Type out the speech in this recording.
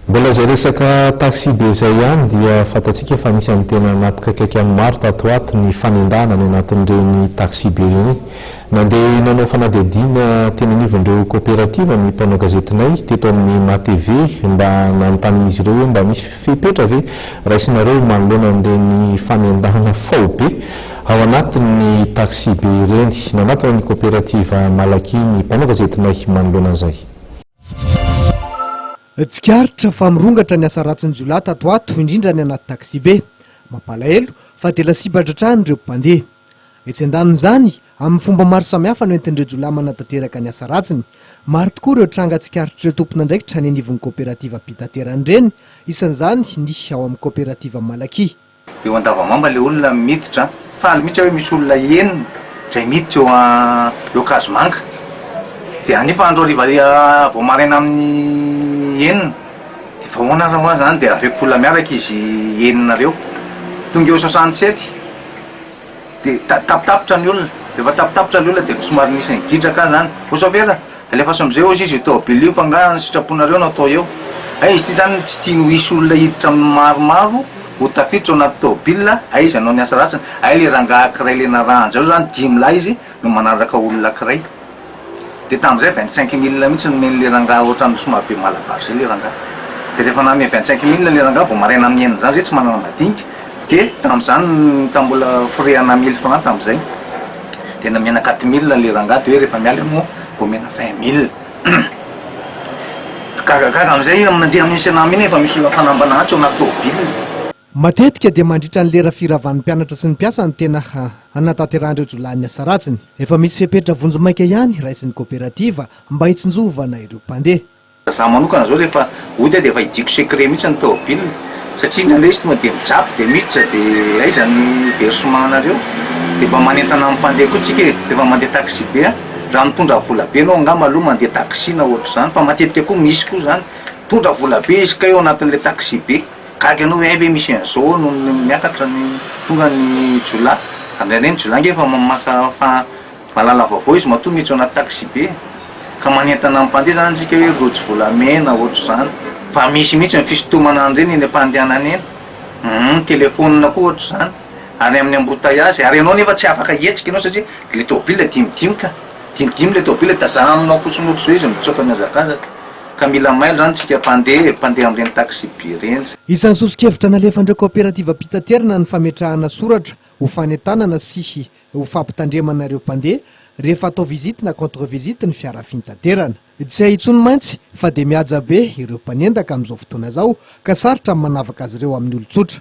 Mbola izay resaka taxi-be izay ihany dia fantatsika fa anisan'ny tena nampikaikaika an'ny maro tato ho ato ny fanendahana any anatin'ireny taxi-be ireny. Nandeha nanao fanadihadiana teny anivon'ireo kaoperativa ny mpanao gazetinay teto amin'ny MATV mba nanontanian'izy ireo hoe mba misy fepetra ve raisinareo manoloana an'ireny fanendahana faobe ao anatin'ny taxi-be ireny. Nanatona ny kaoperativa Malaky ny mpanao gazetinay manoloana an'izay. Tsikaritra fa mirongatra ny asa ratsin'ny jiolahy tato ho ato, indrindra ny anaty taxi-be. Mampalahelo fa dia lasibatra hatrany ireo mpandeha. Etsy an-danin'izany, amin'ny fomba maro samihafa no entin'ireo jiolahy manatanteraka ny asa ratsiny. Maro tokoa ireo tranga tsikaritr'ireo tompon'andraikitra any anivon'ny kaoperativa mpitaterana ireny, isan'izany ny ao amin'ny kaoperativa Malaky. Eo Andavamamba ilay olona miditra an! Faly mihitsy aho hoe misy olona enina izay miditra eo an, eo Kazomanga. Dia nefa andro hariva vao maraina amin'ny enina. Dia fa ahoana ary hoa izany dia aveko olona miaraka izy enina ireo. Tonga eo soixante sept dia ta-tapitapitra ny olona. Rehefa tapitapitra ilay olona dia somary nisy ny gidraka aho izany, ô chauffeur a! Alefaso amizay ozy izy io tôbily io fa nga ny sitraponareo no atao eo Hay izy ty zany tsy tiany ho hisy olona hiditra aminy maromaro ho tafiditra ao anaty tôbila hay izy hanao ny asa ratsiny hay le rangaha kiray le narahany zao zany dimy lahy izy no manaraka olona kiray de tamizay vingt cinq mille mitsy nomeny le rangaha otran'ny somary be malabar zay le rangaha de refa nanome vingt cinq mille le rangaha vao maraina amin'ny enina zany zay tsy manana madinika de tamizany tam mbola frais ana mille francs tamizay. Tena omena quatre mille le rangah de hoe rehefa miala eo no vao omena vingt mille Gagagaga amin'izay mandeha amin'iny Cenam iny efa misy fanambana antsy ao anaty tôbily. Matetika dia mandritra ny lera firavan'ny mpianatra sy ny mpiasa no tena hanatanterahan'ireo jiolahy ny asa ratsiny. Efa misy fepetra vonjimaika ihany raisin'ny koperativa mba hitsinjovana ireo mpandeha. Raha izaho manokana izao rehefa ody dia efa hidiako secret mihitsy ny tomobilina satria indraindray izy tonga dia mijapy dia miditra dia aiza ny versement anareo? dia mba manentana amin'ny mpandeha koa tsika e! rehefa mandeha taxi be an! raha mitondra vola be ianao angamba aloha mandeha taxi na ohatr'izany fa matetika koa misy koa izany mitondra vola be izy kay ao anatin'ilay taxi be gaga ianao hoe hay ve misy an'izao ao noho ny miakatra ny tonga ny jiolahy, ary indraindray ny jiolahy ange efa maka fa Malala vaovao izy matoa miditra anaty taxibe ka manentana ny mpandeha zany tsika hoe rojo volamena ohatr'izany fa misy mihitsy ny fisintomana an'ireny eny am-pandehanana eny humm telephone koa ohatr'izany ary amin'ny embouteillages ary ianao nefa tsy afaka hihetsika ianao satria le tôbila dimidimy ka dimidimy le tôbila tazahaminao fotsiny ohatr'izao izy mitsoaka mihazakazaka ka mila mailo zany tsika mpandeha e mpandeha amin'ireny taxibe ireny zany. Isan'ny soso-kevitra nalefan'ireo kaoperativam-pitaterana ny fametrahana soratra ho fanentanana sy ho fampitandremana ireo mpandeha rehefa atao visite na contre visite ny fiara fintaterana. Tsy hay intsony mantsy fa dia mihaja be ireo mpanendaka amin'izao fotoana izao ka sarotra ny manavaka azy ireo amin'ny olon-tsotra.